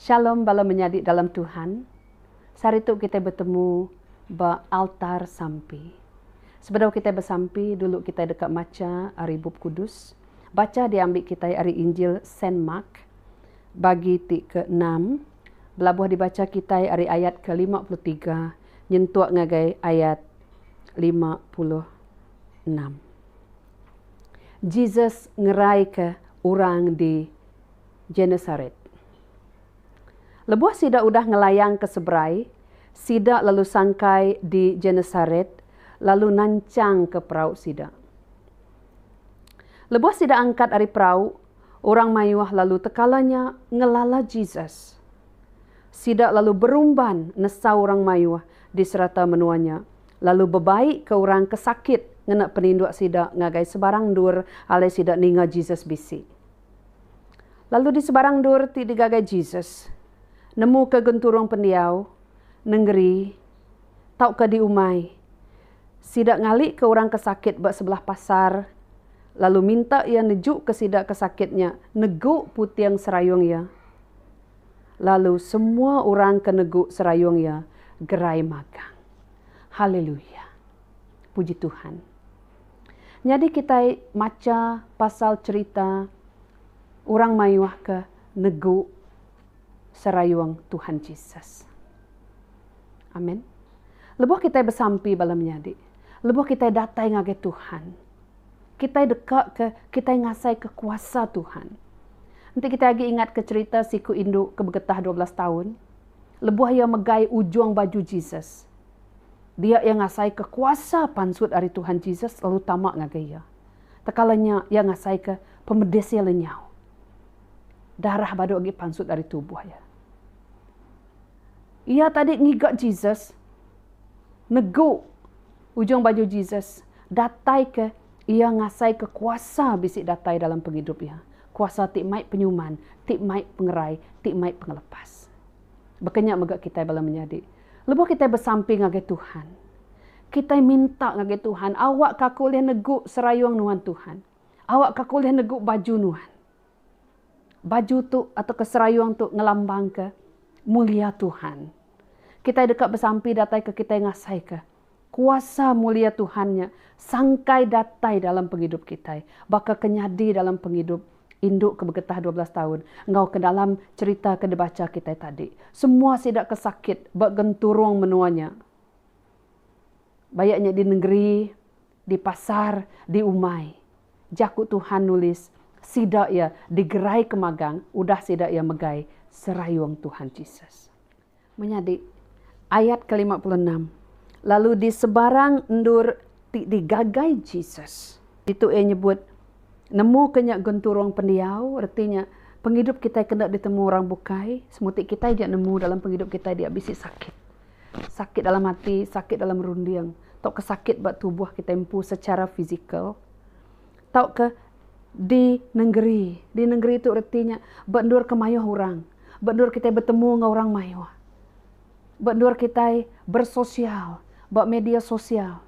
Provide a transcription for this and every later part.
Shalom bala menyadi dalam Tuhan, seharitu kitai betemu ba altar sampi. Sebedau kitai besampi, dulu kitai deka macha ari Bup Kudus. Bacha diambi kitai ari Injil Saint Mark bagi ti keenam, belabuh dibacha kitai ari ayat ke lima puluh tiga nyentuk ngagai ayat lima puluh enam. Jesus ngeraika orang di Genesaret. Lebuh sida udah ngelayang ke seberai, sida lalu sangkai di Genesaret lalu nanchangka perau sida. Lebuh sida angkat ari perau, Orang mayuh lalu tekala nya ngelala Jesus. Sida lalu berumban nesau orang mayuh di serata menua nya, lalu bebaikka orang ke sakit ngena peninduk sida ngagai sebarang endur alai sida ninga Jesus bisi. Lalu di sebarang endur ti digagai Jesus, nemuka genturung pendiau nengeri tauka diumai. Sida ngalika orang ke sakit ba sebelah pasar, lalu minta iya nejuka sida ke sakit nya negu puting serayung iya. Lalu semua orang ke negu serayung iya gerai magang. Haleluya! Puji Tuhan. Nyadi kitai macha pasal cherita orang mayuh ke negu Serayung Tuhan Jesus. Amen. Lebuh kitai besampi bala menyadi, lebuh kitai datai ngagai Tuhan, kitai dekaka kitai ngasaika kuasa Tuhan. Enti kitai agi ingatka cherita siku indu ke begetah dua belas taun, lebuh iya megai ujung baju Jesus, dia iya ngasaika kuasa pansut ari Tuhan Jesus lalu tama ngagai iya. Tekala nya, iya ngasaika pemedis iya lenyau. Darah badu agi pansut ari tubuh iya. Iya tadi ngiga Jesus, negu ujung baju Jesus, dataika iya ngasaika kuasa bisi datai dalam pengidup iya. Kuasa ti mai penyuman, ti mai pengerai, ti mai pengelepas. Baka nya mega kitai bala menyadi, lebuh kitai besampi ngagai Tuhan, kitai minta ngagai Tuhan, Awakka aku ulih negu serayung nuan Tuhan. Awak ka aku ulih negu baju nuan. Baju tu atauka serayung tu ngelambangka mulia Tuhan. Kitai deka besampi datai ke kitai ngasaika kuasa mulia Tuhan nya sangkai datai dalam pengidup kitai, baka ke nyadi dalam pengidup indu ke begetah dua belas taun enggau ke dalam cherita ke dibacha kitai tadi. Semua sida ke sakit ba genturung menua nya, baya nya di nengeri Di pasar, di umai. Jaku Tuhan nulis, Sida iya digeraika magang udah sida iya megai serayung Tuhan Jesus. Menyadi, ayat ke lima puluh enam, Lalu di sebarang endur ti digagai Jesus. Ditu iya nyebut, Nemuka nya genturung pendiau, reti nya, pengidup kitai kena ditemu orang bukai, semuti kitai ja nemu dalam pengidup kitai dia bisi sakit. Sakit dalam ati, sakit dalam runding. tauka sakit ba tubuh kitai empu secara fizikal tauka di nengeri. Di nengeri tu reti nya ba endur ke mayuh orang, ba endur kitai betemu enggau orang mayuh, ba endur kitai bersosial ba media sosial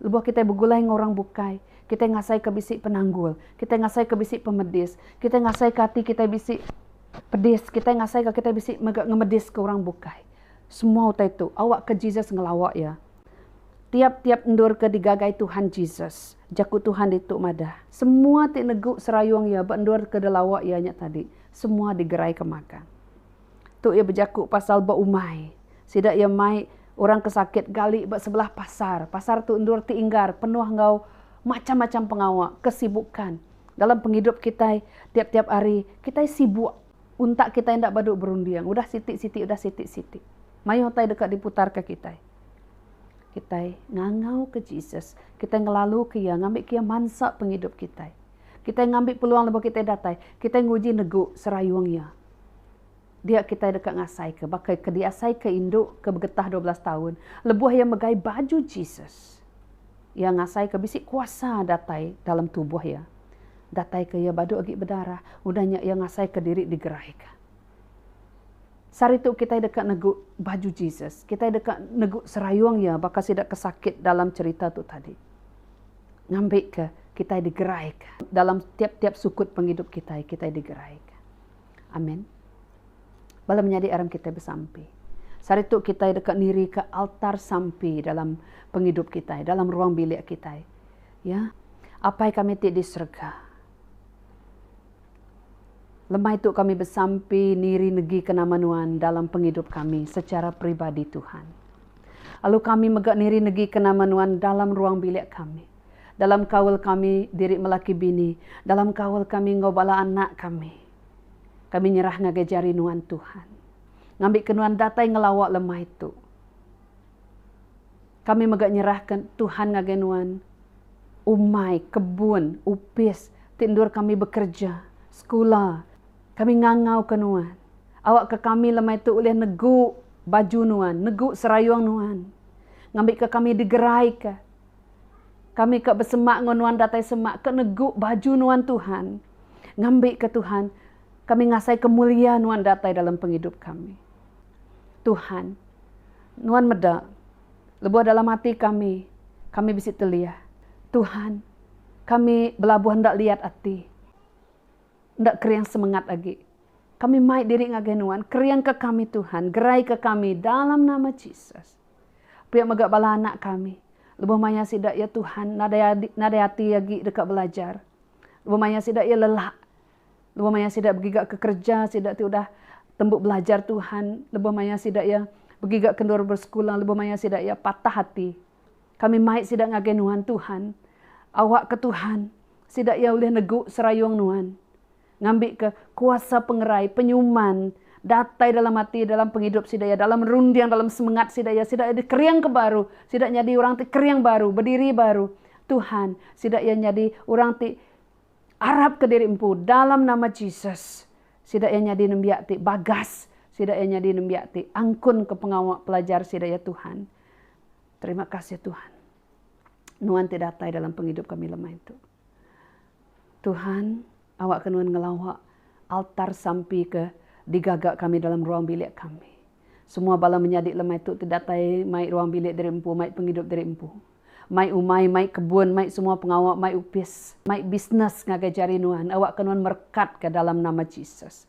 lebuh kitai begulai enggau orang bukai, kitai ngasaika bisi penanggul, kitai ngasaika bisi pemedis, kitai ngasaika ati kitai bisi pedis, kitai ngasaika kitai bisi mega ngemediska orang bukai. Semua utai tu awakka Jesus ngelawa iya. Tiap-tiap endur ke digagai Tuhan Jesus. Jaku Tuhan ditu madah, Semua ti negu serayung iya ba endur ke dilawa iya nya tadi, semua digeraika magang. Tu iya bejaku pasal ba umai sida iya mai orang ke sakit gali ba sebelah pasar. Pasar tu endur ti inggar penuh enggau macam-macam pengawa, kesibukan. Dalam pengidup kitai tiap-tiap hari, kitai sibuk. Untak kitai enda badu berunding udah siti-siti udah siti-siti mayuh utai deka diputarka kitai. Kitai ngangauka Jesus, kitai ngelaluka Iya, ngambika Iya mansa pengidup kitai. Kitai ngambi peluang lebuh kitai datai, kitai nguji negu serayung Iya. Dia kitai deka ngasaika baka ke diasaika indu ke begetah dua belas taun lebuh iya megai baju Jesus. Iya ngasaika bisi kuasa datai dalam tubuh iya. Dataika iya badu agi bedarah, udah nya iya ngasaika diri digeraika. Saritu kitai deka negu baju Jesus. Kitai deka negu serayung iya baka sida ke sakit dalam cherita tu tadi. Ngambika kitai digeraika dalam tiap-tiap sukut pengidup kitai, kitai digeraika. Amin. Bala menyadi aram kitai besampi. Sehari tu kitai deka nirika altar sampi dalam pengidup kitai, dalam ruang bilik kitai. Ya. Apai kami ti di serega. Lemai tu kami besampi niri negika nama Nuan dalam pengidup kami secara peribadi Tuhan. Lalu kami mega niri negika nama Nuan dalam ruang bilik kami. dalam kaul kami diri melaki bini, dalam kaul kami enggau bala anak kami. Kami nyerah ngagai jari nuan Tuhan. Ngambika nuan datai ngelawa lemai tu. Kami mega nyerahka Tuhan ngagai nuan umai, kebun, opis ti endur kami bekereja, sekula. Kami ngangauka nuan awakka kami lemai tu ulih negu baju nuan, negu serayung nuan ngambika kami digeraika. Kami ka besemak enggau nuan datai semak ka negu baju nuan Tuhan. Ngambi ka Tuhan kami ngasai ka mulia nuan datai dalam pengidup kami. Tuhan nuan meda lebuh dalam ati kami kami bisi telih. Tuhan kami belabuh enda liat ati. Enda kering semengat agi. Kami mai diri ngagai nuan kering ka kami Tuhan gerai ka kami dalam nama Jesus. Pia mega bala anak kami. Lebuh maya sida, ya Tuhan, nadai adi, nadai ati agi deka belajar. Lebuh maya sida, ya lelak. Lebuh maya sida begiga ke kereja, sida ti udah tembu belajar Tuhan. Lebuh maya sida, ya begiga ke endur bersekula. Lebuh maya sida, ya patah ati. Kami mai sida ngagai Nuan, Tuhan. Awakka Tuhan, sida, ya ulih negu serayung Nuan. Ngambika kuasa pengerai, penyuman, datai dalam ati, dalam pengidup sida iya, dalam runding, dalam semengat sida iya, sida iya dikering ke baru, sida nyadi orang ti kering baru, bediri baru. Tuhan, sida iya nyadi orang ti arapka diri empu dalam nama Jesus. Sida iya nyadi nembiak ti bagas, sida iya nyadi nembiak ti angkunka pengawa pelajar sida iya Tuhan. Terima kasih Tuhan. Nuan ti datai dalam pengidup kami lemai tu. Tuhan, awakka Nuan ngelawa altar sampi ke digaga kami dalam ruang bilik kami. Semua bala menyadi lemai tu ti datai mai ruang bilik diri empu, mai pengidup diri empu. Mai umai, mai kebun, mai semua pengawa, mai opis, mai bisnes ngagai jari Nuan, awakka Nuan merekatka dalam nama Jesus.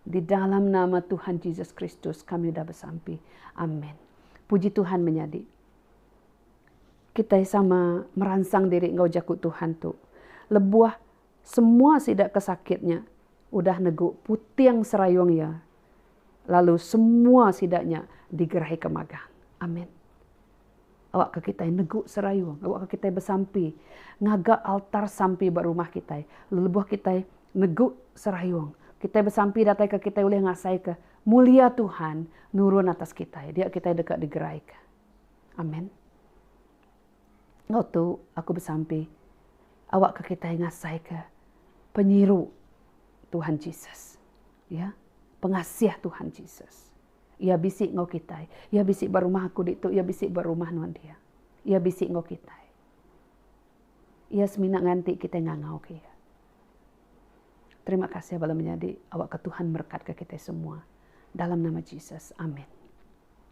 Di dalam nama Tuhan Jesus Kristus kami udah besampi. Amen. Puji Tuhan menyadi kitai sama meransang diri enggau jaku Tuhan tu. Lebuh semua sida ke sakit nya udah negu puting serayung iya lalu semua sida nya digerahika magang. Amen. Awakka kitai negu serayung. Awakka kitai besampi ngaga altar sampi ba rumah kitai. Lelebuh kitai negu serayung, kitai besampi dataika kitai ulih ngasaika mulia Tuhan nurun atas kitai. Dia kitai deka digeraika. Amen. Enggau tu, aku besampi awakka kitai ngasaika penyiru Tuhan Jesus. Ya. Pengasih Tuhan Jesus. Iya bisi enggau kitai. Iya bisi ba rumah aku ditu, iya bisi ba rumah nuan dia. Iya bisi enggau kitai. Iya semina nganti kitai ngangauka iya. Terima kasih bala menyadi, awakka Tuhan merekatka kitai semua. Dalam nama Jesus, amin.